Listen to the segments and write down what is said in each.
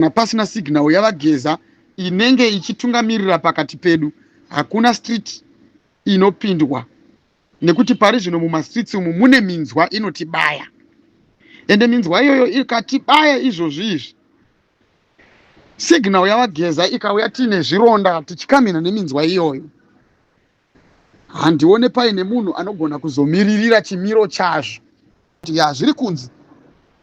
kana pasina signal yavageza inenge ichitungamirira pakati pedu hakuna street inopindwa nekuti pari zvino mumastreets umu mune minzwa inotibaya ende minzwa iyoyo ikatibaya izvozvi izvi signal yavageza ikauya tiine zvironda tichikamhina neminzwa iyoyo handione paine munhu anogona kuzomiririra chimiro chazvo ya zviri kunzi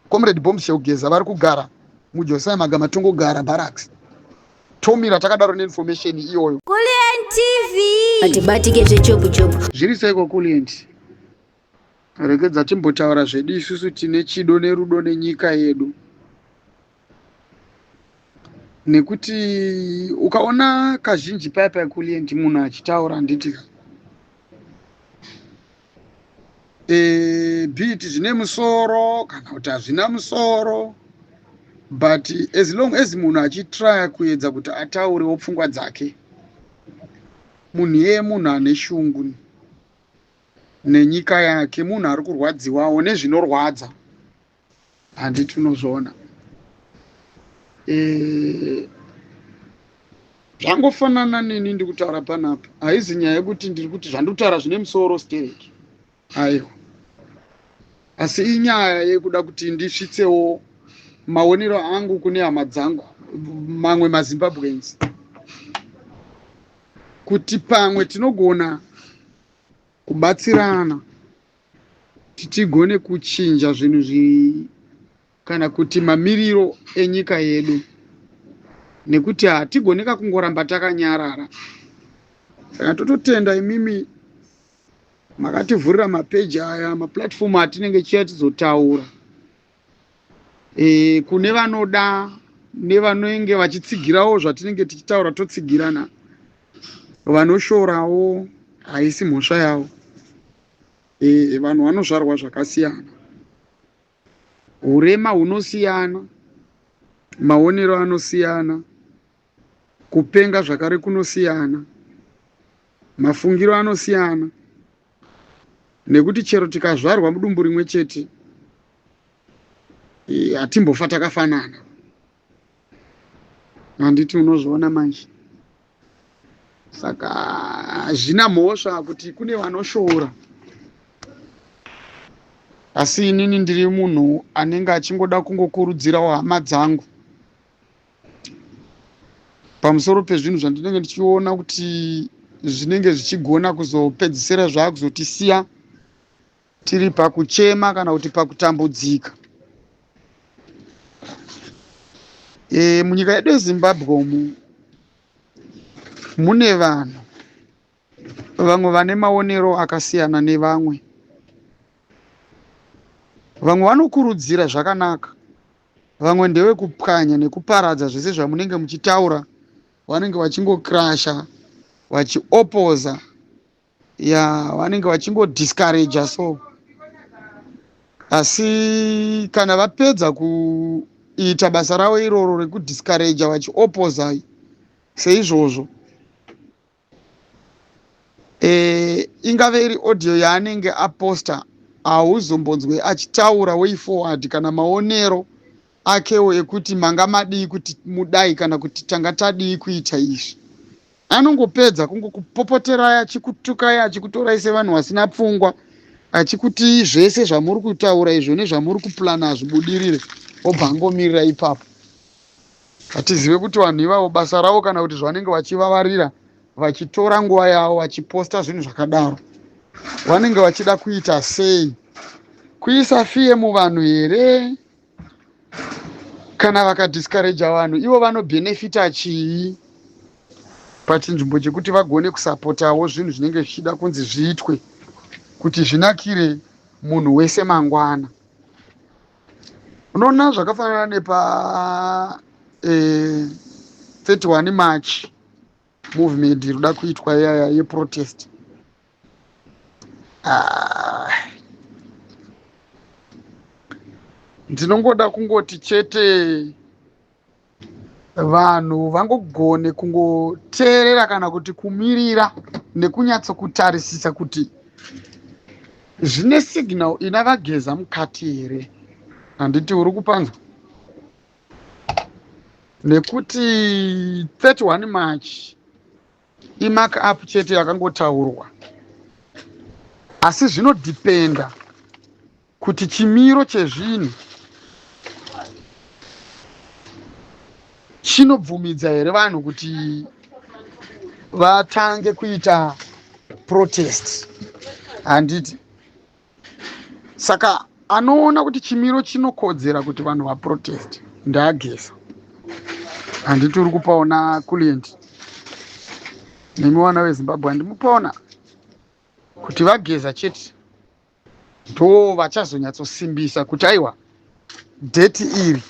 comrade bombshell geza vari kugara mujosai magama tongogara barracks tomira takadaro neinformation iyoyo kulientv hatibatike zvechobuchobu zviri seiko kulienti Regedza timbotaura zvedu isusu tine chido nerudo nenyika yedu nekuti ukaona kazhinji paya paya kulient munhu achitaura handiti ka e, eh, bit zvine musoro kana kuti hazvina musoro but as long as munhu achitraya kuedza kuti ataurewo pfungwa dzake munhu yeye munhu ane shungu nenyika yake munhu ari kurwadziwawo nezvinorwadza handi tinozviona eh, zvangofanana neni ndi kutaura panapa haizi nyaya yekuti ndiri kuti zvandiri kutaura zvine musoro stereki aiwa asi inyaya yekuda kuti ndisvitsewo maonero angu kune hama dzangu mamwe mazimbabweans kuti pamwe tinogona kubatsirana kuti tigone kuchinja zvinhu zvi kana kuti mamiriro enyika yedu nekuti hatigone kakungoramba takanyarara saka tototenda imimi makativhurira mapeji aya maplatform atinenge chiya tizotaura e, kune vanoda nevanenge vachitsigirawo zvatinenge tichitaura totsigirana vanoshorawo haisi mhosva yavo e, vanhu vanozvarwa zvakasiyana urema hunosiyana maonero anosiyana kupenga zvakare kunosiyana mafungiro anosiyana nekuti chero tikazvarwa mudumbu rimwe chete eh, hatimbofa takafanana handiti unozviona manje saka hazvina mhosva kuti kune vanoshoora asi inini ndiri munhu anenge achingoda kungokurudzirawo hama dzangu pamusoro pezvinhu zvandinenge ndichiona kuti zvinenge zvichigona kuzopedzisira zvaakuzotisiya tiri pakuchema kana kuti pakutambudzika e, munyika yedu yezimbabwe umu mune vanhu vamwe vane maonero akasiyana nevamwe vamwe vanokurudzira zvakanaka Vamwe ndevekupwanya nekuparadza zvese zvamunenge muchitaura vanenge vachingokrasha vachiopoza ya vanenge vachingodiscourager so asi kana vapedza kuita basa ravo iroro rekudiscourager vachiopoza seizvozvo eh, ingave iri audio yaanenge aposta hauzombonzwe achitaura way forward kana maonero akewo ekuti manga madii kuti mudai kana kuti tanga tadii kuita izvi anongopedza kungokupopoterai achikutukai achikutorai sevanhu vasina pfungwa achikuti zvese zvamuri kutaura izvo nezvamuri kuplana hazvibudirire obva angomirira ipapo Hatizive kuti vanhu ivavo basa ravo kana kuti zvavanenge vachivavarira vachitora nguva yavo vachiposta zvinhu zvakadaro vanenge vachida kuita sei kuisa fiye muvanhu here kana vakadiscouraja vanhu ivo vanobhenefita chii pachinzvimbo chekuti vagone kusapotawo zvinhu zvinenge zvichida kunzi zviitwe kuti zvinakire munhu wese mangwana unoona zvakafanana nepa eh, 31 march movement iri kuda kuitwa yaya yeprotest ah. ndinongoda kungoti chete vanhu vangogone kungoteerera kana kuti kumirira nekunyatso kutarisisa kuti zvine signal ina vageza mukati here handiti uri kupanzwa nekuti 31 march imark up chete yakangotaurwa asi zvinodhipenda kuti chimiro chezvinhu chinobvumidza here vanhu kuti vatange kuita protest handiti saka anoona kuti chimiro chinokodzera kuti vanhu vaprotest ndaagesa handiti uri kupaona kulient nemi vana vezimbabwe handimupaona kuti vageza chete ndoo vachazonyatsosimbisa kuti aiwa dheti iri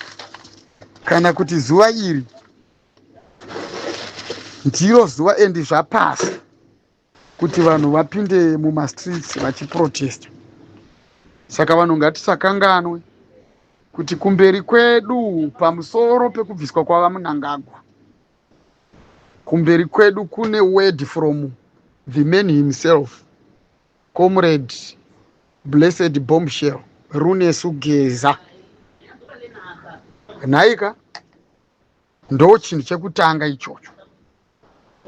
kana kuti zuva iri ndiro zuva endi zvapasi kuti vanhu vapinde mumastreets vachiprotesta saka vanhu ngatisakanganwe kuti kumberi kwedu pamusoro pekubviswa kwava munangagwa kumberi kwedu kune word from the man himself Comrade Blessed Bombshell Runesu Geza. Nhaika ndo chinhu chekutanga ichocho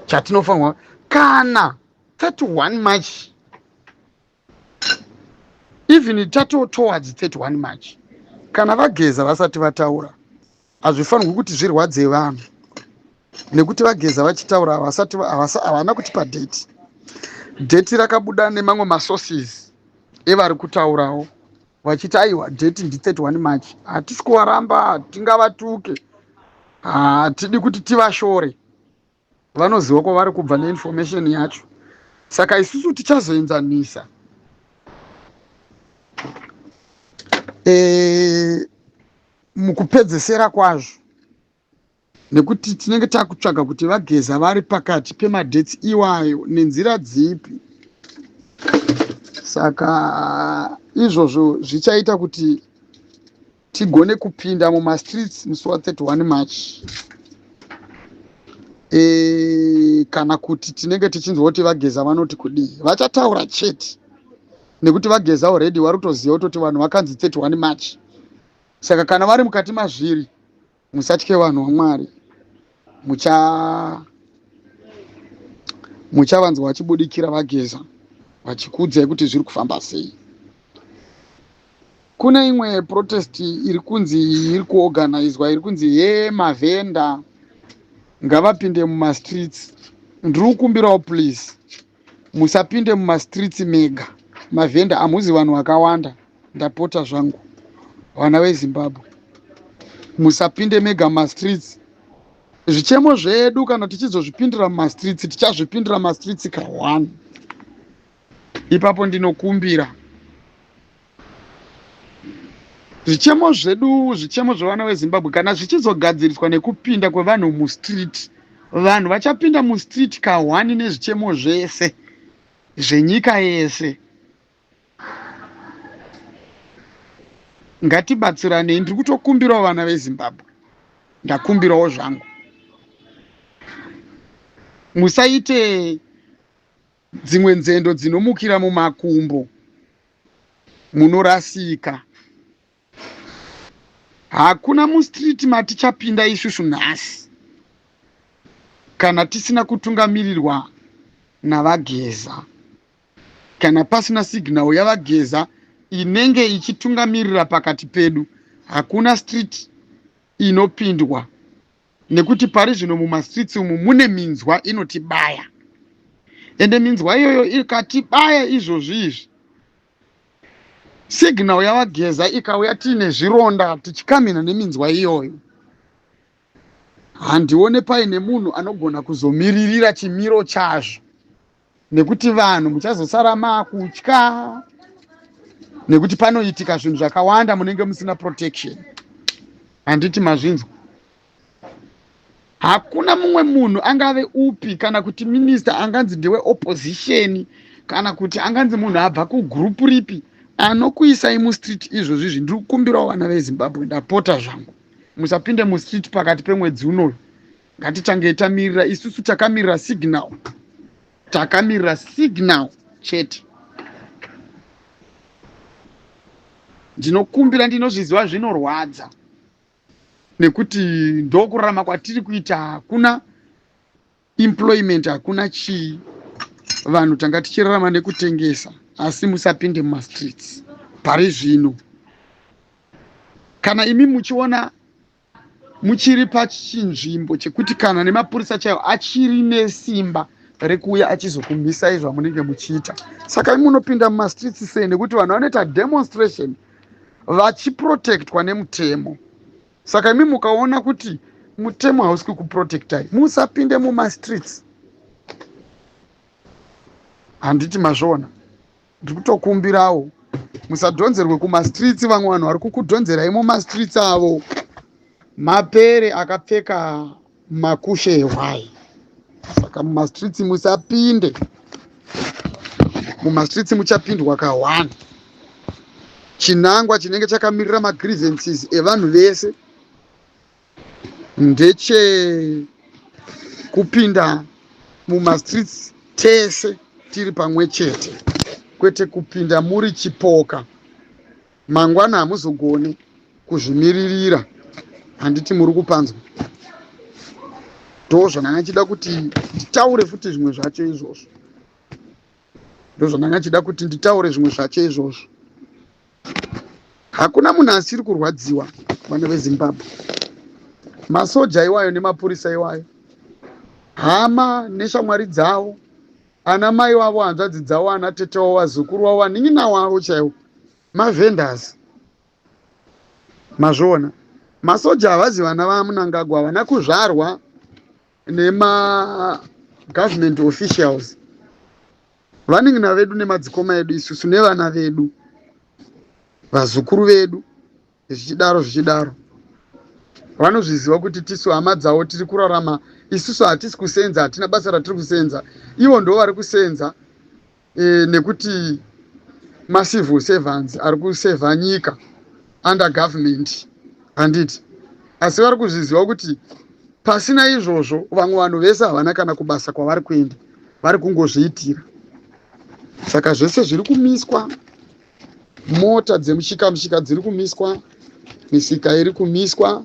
chatinofanirwa kana 31 march even tato towards 31 march kana vageza vasati vataura Hazvifanirwi kuti zvirwadze vanhu nekuti vageza vachitaura havasati havana kutipa date date rakabuda nemamwe masources evari kutaurawo vachiti aiwa date ndi 31 march hatisi kuvaramba tingavatuke hatidi kuti tivashore vanoziva kwavari kubva neinformation yacho saka isusu tichazoenzanisa e, mukupedzesera kwazvo nekuti tinenge takutsvaga kuti vageza vari pakati pemadheti iwayo nenzira dzipi saka izvozvo zvichaita kuti tigone kupinda mumastreets musi wa 31 march e, kana kuti tinenge tichinzwa kuti vageza vanoti kudii vachataura chete nekuti vageza already vari kutoziva kutoti vanhu vakanzi 31 march saka kana vari mukati mazviri Musatye vanhu waMwari, mucha muchavanzwa vachibudikira vageza vachikuudzai kuti zviri kufamba sei. Kune imwe protest iri kunzi iri kuorganizwa iri kunzi he mavhenda ngavapinde mumastreets. Ndiri kukumbirawo please musapinde mumastreets mega mavhenda hamuzi vanhu vakawanda ndapota zvangu vana vezimbabwe musapinde mega mumastreets zvichemo zvedu kana tichizozvipindira mumastreets tichazvipindira mumastreets ka one ipapo ndinokumbira Zvichemo zvedu, zvichemo zvevana veZimbabwe kana zvichizogadziriswa nekupinda kwevanhu mustreet, vanhu vachapinda mustreet kahwani nezvichemo zvese zvenyika yese. Ngatibatsiranei, ndiri kutokumbirawo vana veZimbabwe, ndakumbirawo zvangu, musaite Dzimwe nzendo dzinomukira mumakumbo munorasika. Hakuna mustreet matichapinda isusu nhasi kana tisina kutungamirirwa naVaGeza. Kana pasina signal yaVaGeza inenge ichitungamirira pakati pedu, hakuna street inopindwa nekuti pari zvino mumastreets umu mune minzwa inotibaya ende minzwa iyoyo ikatibaya izvozvi izvi signal yavageza ikauya tiine zvironda tichikamhina neminzwa iyoyo handione paine munhu anogona kuzomiririra chimiro chazvo nekuti vanhu muchazosara makutya nekuti panoitika zvinhu zvakawanda munenge musina protection handiti mazvinzwa hakuna mumwe munhu angave upi kana kuti minista anganzi ndewe opposition kana kuti anganzi munhu abva kugrupu ripi anokuisai mustreet izvozvi izvi ndiri kukumbirawo vana vezimbabwe ndapota zvangu musapinde mustreet pakati pemwedzi unoyu Ngatitange tamirira isusu takamirira signal. Takamirira signal chete. Ndinokumbira ndinozviziva zvinorwadza nekuti ndokurarama kwatiri kuita hakuna employment hakuna chii vanhu tanga tichirarama nekutengesa asi musapinde mumastreets pari zvino kana imi muchiona muchiri pachinzvimbo chekuti kana nemapurisa chaiwo achiri nesimba rekuuya achizokumhisai zvamunenge muchiita saka munopinda mumastreets sei nekuti vanhu vanoita demonstration vachiprotectwa nemutemo saka imi mukaona kuti mutemo hausi kukuprotectai musapinde mumastreets handiti mazviona ndiri kutokumbirawo musadhonzerwe kumastreets vamwe vanhu vari kukudhonzerai mumastreets avo mapere akapfeka makushe ehwai saka mumastreets musapinde mumastreets muchapindwa kahwani chinangwa chinenge chakamirira magrivences evanhu vese ndeche kupinda mumastreets tese tiri pamwe chete kwete kupinda muri chipoka mangwana hamuzogoni kuzvimiririra handiti muri kupanzwa ndozvandanga chida kuti nditaure futi zvimwe zvacho izvozvo ndozvandanga chida kuti nditaure zvimwe zvacho izvozvo hakuna munhu asiri kurwadziwa vana vezimbabwe masoja iwayo nemapurisa iwayo hama neshamwari dzavo ana mai wavo hanzvadzi dzavo ana tete wavo vazukuru wavo vanin'ina wavo chaivo mavenders mazviona masoja havazi vana vamunangagwa havana kuzvarwa nema government officials vanin'ina vedu nemadzikoma edu isusu nevana vedu vazukuru vedu zvichidaro zvichidaro vanozviziva kuti tisu hama dzavo tiri kurarama isusu hatisi kusenza hatina basa ratiri kusenza ivo ndo vari kusenza e, nekuti macivil servants ari kusevha nyika under government handiti asi vari kuzviziva kuti pasina izvozvo vamwe vanhu vese havana kana kubasa kwavari kuenda vari kungozviitira saka zvese zviri kumiswa mota dzemushika mushika dziri kumiswa misika iri kumiswa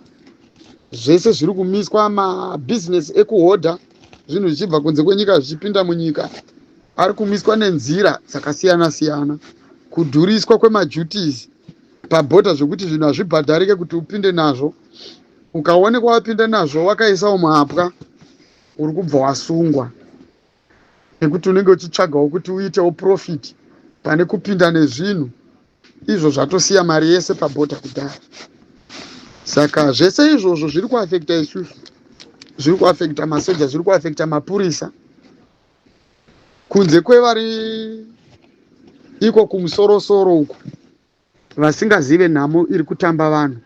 zvese zviri kumiswa mabhizinesi ekuhodha zvinhu zvichibva kunze kwenyika zvichipinda munyika ari kumiswa nenzira dzakasiyana siyana kudhuriswa kwemajutis pabhodha zvekuti zvinhu hazvibhadharike kuti upinde nazvo ukaonekwa wapinda nazvo wakaisawo mhapwa uri kubva wasungwa nekuti unenge uchitsvagawo kuti uitewo profit pane kupinda nezvinhu izvo zvatosiya mari yese pabhodha kudhara saka zvese izvozvo zviri kuafekta isusu zviri kuafekta masoja zviri kuafekta mapurisa kunze kwevari iko kumusorosoro uko vasingazive nhamo iri kutamba vanhu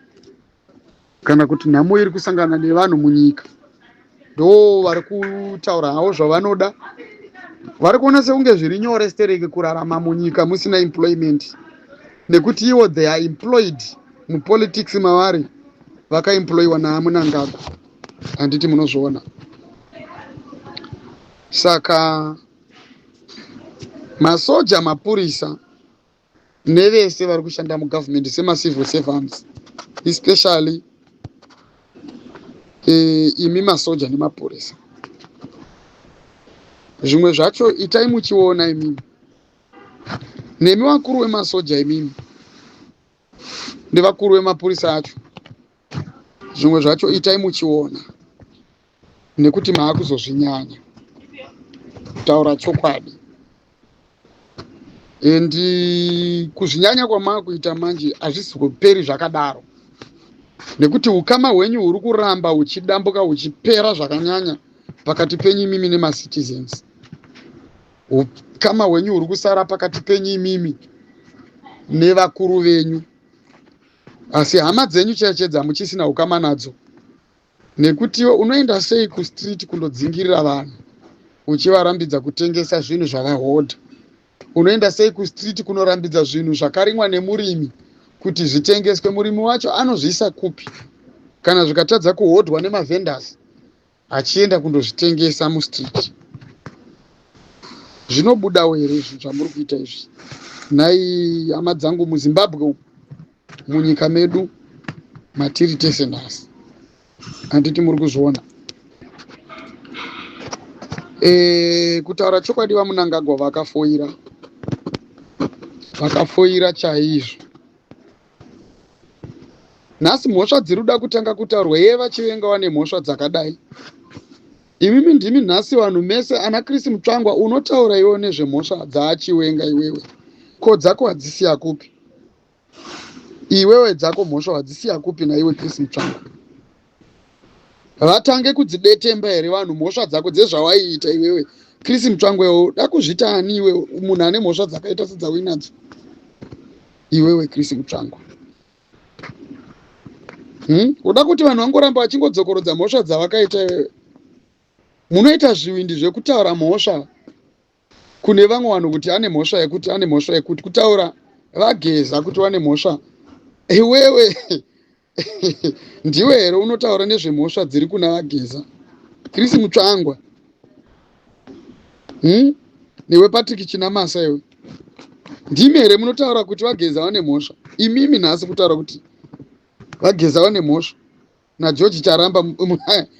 kana kuti nhamo iri kusangana nevanhu munyika ndo vari kutaura havo zvavanoda vari kuona sekunge zviri nyore stereki kurarama munyika musina employment nekuti ivo they are employed mupolitics mavari vakaemployiwa naamunangagwa handiti munozviona saka masoja mapurisa nevese vari kushanda mugovernment semacivil servants especially eh, imi masoja nemapurisa zvimwe zvacho itai muchiona imimi nemi vakuru vemasoja imimi ndevakuru vemapurisa acho zvimwe zvacho itai muchiona nekuti maakuzozvinyanya kutaura chokwadi and kuzvinyanya kwamaakuita manje hazvisi kuperi zvakadaro nekuti ukama hwenyu huri kuramba huchidambuka huchipera zvakanyanya pakati penyu imimi nemacitizens ukama hwenyu huri kusara pakati penyu imimi nevakuru venyu asi hama dzenyu cheche dzamuchisina ukama nadzo nekuti iwe unoenda sei kustreet kundodzingirira vanhu uchivarambidza kutengesa zvinhu zvavahodha unoenda sei kustreet kunorambidza zvinhu zvakarimwa nemurimi kuti zvitengeswe murimi wacho anozviisa kupi kana zvikatadza kuhodhwa nemavendors achienda kundozvitengesa mustreet zvinobudawo here izvi zvamuri kuita izvi nhai hama dzangu muzimbabwe umu munyika medu matiri tese nhasi handiti muri kuzviona e, kutaura chokwadi vamunangagwa vakafoira vakafoira chaizvo nhasi mhosva dziri kuda kutanga kutaurwa yeye vachivenga wane mhosva dzakadai imimi ndimi nhasi vanhu mese ana chris mutsvangwa unotaura iwewo nezvemhosva dzaachiwenga iwewe ko dzako hadzisiya kupi iwewe dzako mhosva hadzisiya kupi naiwe chris mutsvangwa Havatange kudzidetemba here vanhu mhosva dzako dzezvawaiita iwewe Chris Mutsvangwe uda kuzvita ani iwe munhu ane mhosva dzakaita sedzauinadzo iwewe Chris Mutsvangwe hmm? uda kuti vanhu vangoramba vachingodzokorodza mhosva dzavakaita iwewe munoita zvivindi zvekutaura mhosva kune vamwe vanhu kuti ane mhosva yekuti ane mhosva yekuti kutaura vageza kuti vane mhosva iwewe ndiwe here unotaura nezvemhosva dziri kuna vageza chris mutsvangwa hmm? newe patrick chinamasa iwe ndimi here munotaura kuti vageza vane mhosva imimi nhasi kutaura kuti vageza vane mhosva nageorge charamba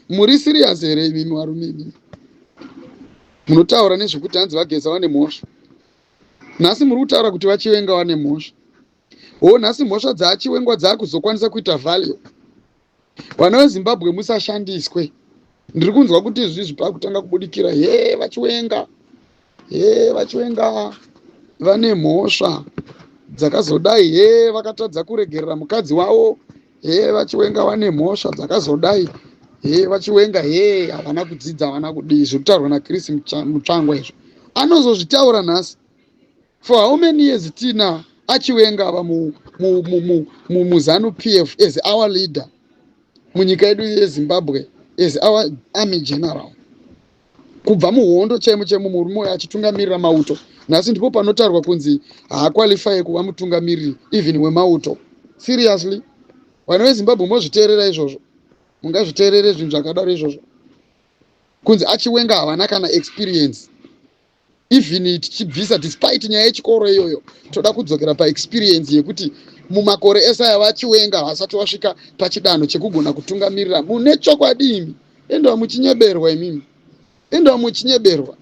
muri siriyas here imimi varume imimi munotaura nezvekuti hanzi vageza vane mhosva nhasi muri kutaura kuti vachivenga vane mhosva wo nhasi mhosva dzaachiwengwa dzaakuzokwanisa kuita value vana vezimbabwe musashandiswe ndiri kunzwa kuti izvizvi pakutanga kubudikira he vachiwenga he vachiwenga vane mhosva dzakazodai he vakatadza kuregerera mukadzi wavo he vachiwenga vane mhosva dzakazodai he vachiwenga he havana kudzidza havana kudii zviri kutaurwa nachris mutsvangwa izvo anozozvitaura nhasi for how many years tina achiwenga ava muzanu pf as our leader munyika yedu yezimbabwe as our army general kubva muhondo chaimo chaimo murume uyo achitungamirira mauto nhasi ndipo panotaurwa kunzi haakwalifaye kuva mutungamiriri even wemauto seriously vana vezimbabwe mozviteerera izvozvo mungazviteerere zvinhu zvakadaro izvozvo kunzi achiwenga havana kana experience even tichibvisa despite nyaya yechikoro iyoyo toda kudzokera paexperience yekuti mumakore ese aya vachiwenga havasati vasvika pachidanho chekugona kutungamirira mune chokwadi imi endiwa muchinyeberwa imimi endiwa muchinyeberwa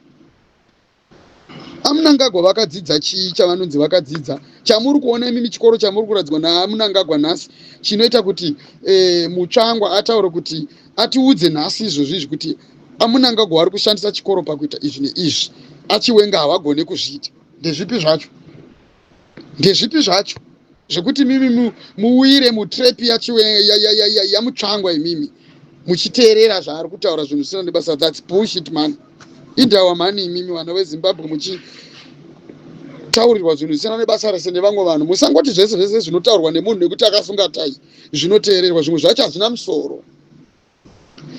amunangagwa vakadzidza chii chavanonzi vakadzidza chamuri kuona imimi chikoro chamuri kuradzwa naamunangagwa nhasi chinoita kuti e, mutsvangwa ataure kuti atiudze nhasi izvozvo izvi kuti amunangagwa ari kushandisa chikoro pakuita izvi neizvi achiwenga havagone kuzviita ndezvipi zvacho ndezvipi zvacho zvekuti mimi muwire mutrepi yamutsvangwa imimi muchiteerera zvaari kutaura zvinhu zvisina nebasa thats bullshit mani indawa mani imimi vana vezimbabwe muchi taurirwa zvinhu zvisina nebasa rese nevamwe vanhu musangoti zvese zvese zvinotaurwa nemunhu nekuti akasunga tai zvinoteererwa zvimwe zvacho hazvina musoro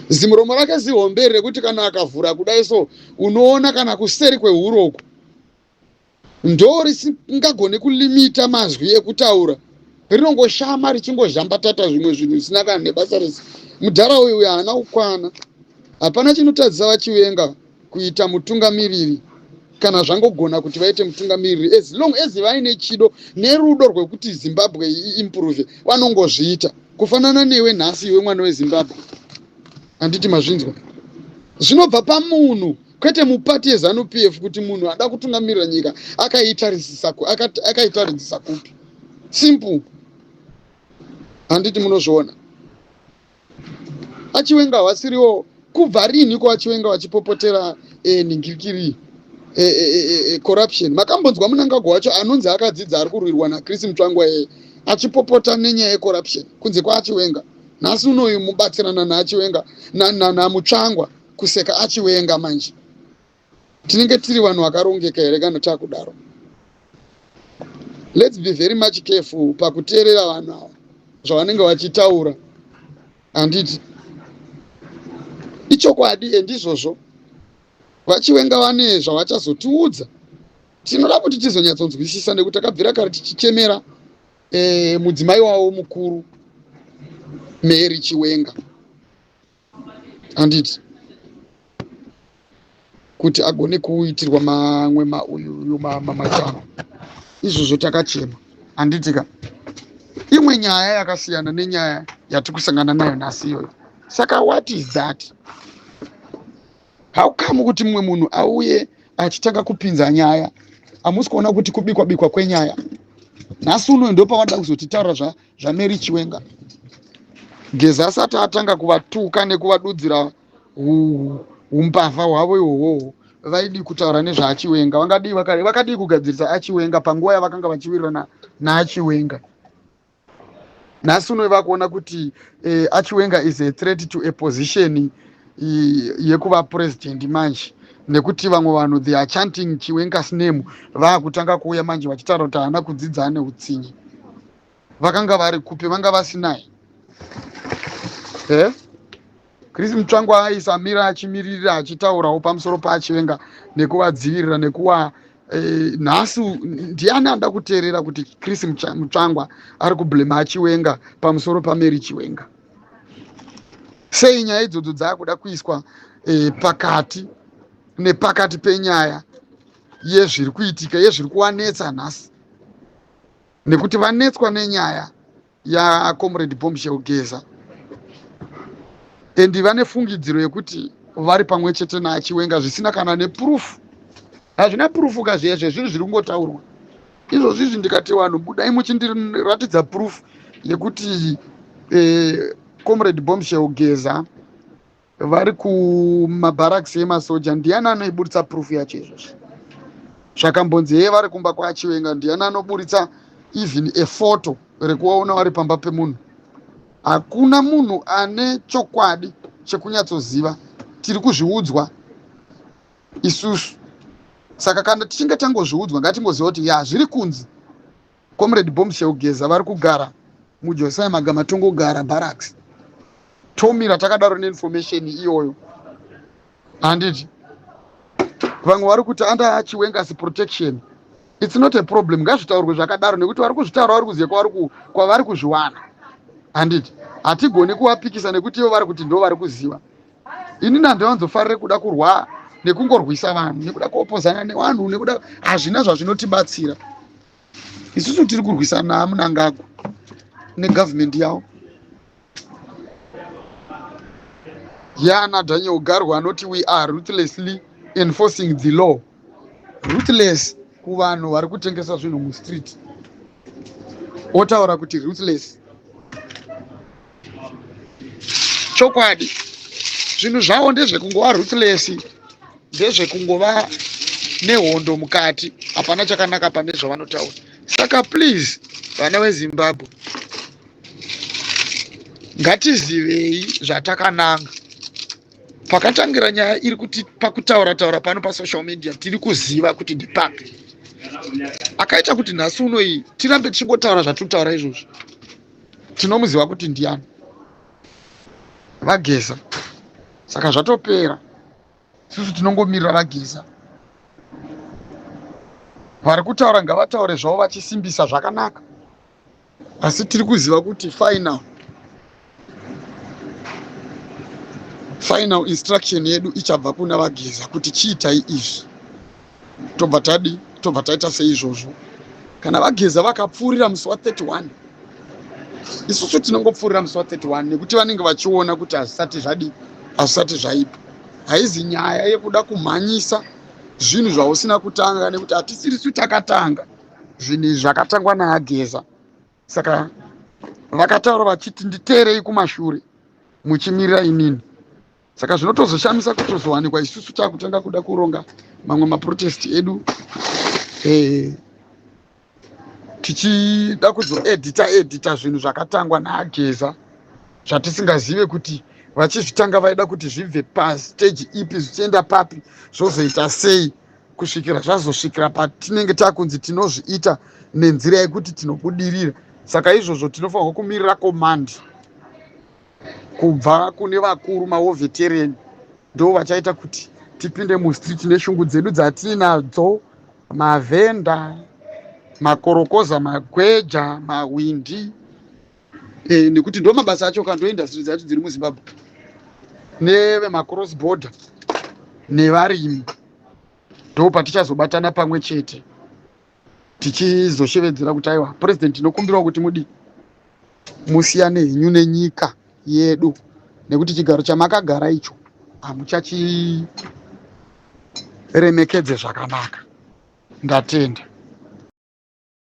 zimuromo rake zihombe rekuti kana akavhura kudai so unoona kana kuseri kwehuro uku ndo risingagone kulimita mazwi ekutaura rinongoshama richingozhambatata zvimwe zvinhu zvisina kana nebasa rese mudhara uyu uyu haana kukwana hapana chinotadzisa vachivenga kuita mutungamiriri kana zvangogona kuti vaite mutungamiriri as long as vaine chido nerudo rwekuti zimbabwe iimprove vanongozviita kufanana newe nhasi iwe mwana wezimbabwe handiti mazvinzwa zvinobva pamunhu kwete mupati yezanup f kuti munhu ada kutungamirira nyika akaitarisisa akaitaridzisa kupi simple handiti munozviona vachiwenga havasiriwo kubva rinhi ko vachiwenga vachipopotera eh, ningirikiri eh, eh, corruption makambonzwa munangagwa wacho anonzi akadzidza ari kurwirwa nachris mutsvangwa yeye achipopota nenyaya yecorruption kunze kwaachiwenga nhasi unoyu mubatsirana naachiwenga namutsvangwa kuseka achiwenga manje tinenge tiri vanhu vakarongeka here kana takudaro lets be very much careful pakuteerera vanhu ava zvavanenge vachitaura handiti ichokwadi endizvozvo vachiwenga vane zvavachazotiudza tinoda kuti tizonyatsonzwisisa nekuti takabvira kare tichichemera e, mudzimai wavo mukuru mary chiwenga handiti kuti agone kuitirwa mamwe mauyu mamachano izvozvo takachema handitika imwe nyaya yakasiyana nenyaya yatiri kusangana nayo nhasi iyoyo saka what is that haukamu kuti mumwe munhu auye achitanga kupinza nyaya hamusi kuona kuti kubikwa bikwa kwenyaya nhasi unoyo ndopavanoda kuzotitaura zva zvaMary Chiwenga. Geza asati atanga kuvatuka nekuvadudzira umbavha hwavo ihwohwohwo vaidii kutaura nezvaachiwenga vangadii vakadii kugadzirisa achiwenga panguva yavakanga vachiwirirana naachiwenga nhasi uno vakuona kuti eh, achiwenga is a threat to a position yekuva president manje nekuti vamwe vanhu they are chanting chiwenga's name vaakutanga kuuya manje vachitaura kuti haana kudzidza ane utsinye vakanga vari kupi vanga vasinai eh? chris mutsvangu aisamira achimiririra achitaurawo pamusoro paachivenga nekuvadzivirira nekuva eh, nhasi ndiani anoda kuteerera kuti chris mutsvangwa ari kublema achiwenga pamusoro pamary chiwenga sei nyaya idzodzo dzaakuda kuiswa eh, pakati nepakati penyaya yezviri kuitika yezviri kuwanetsa nhasi nekuti vanetswa nenyaya yacomrade bombshell geza and vane fungidziro yekuti vari pamwe chete naachiwenga zvisina kana nepurufu hazvina purufu ka zviya zvezvinhu zviri kungotaurwa izvozvi izvi ndikati vanhu budai muchindiratidza purufu yekuti eh, comrade bombshell geza vari kumabaraks emasoja ndiani anoiburitsa proof yacho izvozvo zvakambonzi heye vari kumba kwachiwenga ndiani anoburitsa even a photo rekuvaona vari pamba pemunhu hakuna munhu ane chokwadi chekunyatsoziva tiri kuzviudzwa isusu saka kana tichinge tangozviudzwa ngatingoziva kuti ya zviri kunzi Comrade Bomb Sheugeza vari kugara muJosiah Magama tongogara barracks tomira takadaro neinformation iyoyo handiti vamwe vari kuti under Chiwenga's protection it's not a problem ngazvitaurwe zvakadaro nekuti vari kuzvitaura vari kuziva kwavari kwavari kuzviwana handiti hatigoni kuvapikisa nekuti ivo vari kuti ndo vari kuziva ini nandivanzofarire kuda kurwa nekungorwisa vanhu nekuda kuopozana nevanhu nekuda hazvina zvazvinotibatsira isusu tiri kurwisana munangagwa negovernment yavo yana daniel garwa anoti we are ruthlessly enforcing the law ruthless kuvanhu vari kutengesa zvinhu mustreet otaura kuti ruthless chokwadi zvinhu zvavo ndezvekungova ruthless ndezvekungova nehondo mukati hapana chakanaka pane zvavanotaura saka please vana vezimbabwe ngatizivei zvatakananga pakatangira nyaya iri kuti pakutaura taura pano pasocial media tiri kuziva kuti ndipapi akaita kuti nhasi unoyi tirambe tichingotaura zvatiri kutaura izvozvi tinomuziva kuti ndiani vageza saka zvatopera isusu tinongomirira vageza vari kutaura ngavataure zvavo vachisimbisa zvakanaka asi tiri kuziva kuti final final instruction yedu ichabva kuna vageza kuti chiitai izvi tobva tadi tobva taita seizvozvo kana vageza vakapfuurira musi wa 31 isusu tinongopfuurira musi wa 31 nekuti vanenge vachiona kuti hazvisati zvadi hazvisati zvaipa haizi nyaya yekuda kumhanyisa zvinhu zvausina kutanga nekuti hatisirisu takatanga zvinhu izvi zvakatangwa naageza saka vakataura vachiti nditeerei kumashure muchimirira inini saka zvinotozoshamisa kutozowanikwa isusu takutanga kuda kuronga mamwe maprotest edu eh, tichida kuzoedita edita zvinhu zvakatangwa naageza zvatisingazive kuti vachizvitanga vaida kuti zvibve pasteji ipi zvichienda papi zvozoita sei kusvikira zvazosvikira patinenge takunzi tinozviita nenzira yekuti tinobudirira saka izvozvo tinofanirwa kumirira komandi kubva kune vakuru maovetereni ndo vachaita kuti tipinde mustreet neshungu dzedu dzatiinadzo mavhenda makorokoza magweja mahwindi eh, nekuti ndo mabasa acho ka ndo industry dzacho dziri muzimbabwe nevemacross border nevarimi ndo patichazobatana pamwe chete tichizoshevedzera kuti aiwa purezidendi tinokumbirawo kuti mudii musiyane henyu nenyika yedu nekuti chigaro chamakagara icho hamuchachiremekedze zvakanaka ndatenda